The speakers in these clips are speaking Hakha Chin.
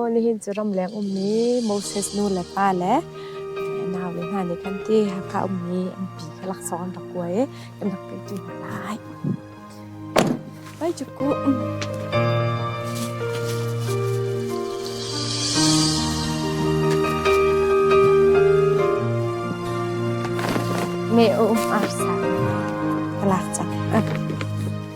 Nihin cu ramleng ummi Moses nu le pa le naule hna nih khan ti Hakha ummi an pi kha laksawng an rak kuai i kan rak kaihṭi hna lai. Vai cu kuh! Me-um ar sa ka lak cang.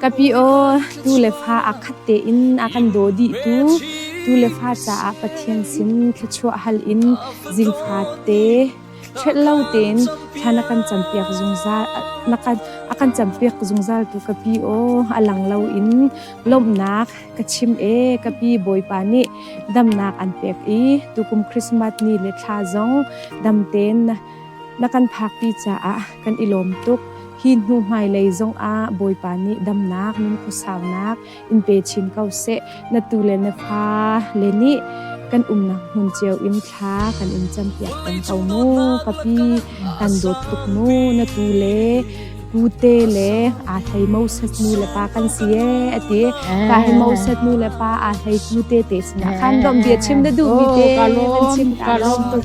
Kapi aw, tu le fa aa khat tein a kan daw dihtu tu le fa caah Pathian sin thluachuah hal in zingfate ṭhet lo tein thla na kan campiak zungzal na kan a kan campiak zungzal tu ka pi aw a lang lo in lawmhnak ka chim e ka pi bawipa nih damnak an pek i tukum Christmas ni le thla zong damten na Na kan phakpi caah kan i lawm tuk. Hi hnu hmailei zongah Bawipa nih damnak, nunkhawsaunak in pe chin ko seh. Na tu le na fa le nih kan umnak hmun cio in thla kan in campiak peng ko mu. Ka pi, kan dawt tuk mu. Na tu le kute le aa hlei Moses nu le pa kan si ee a ti. Pa he Moses nu le pa aa hlei kute te sinah khan domh bia chim na duhmi te kan chim ka lawm tuk.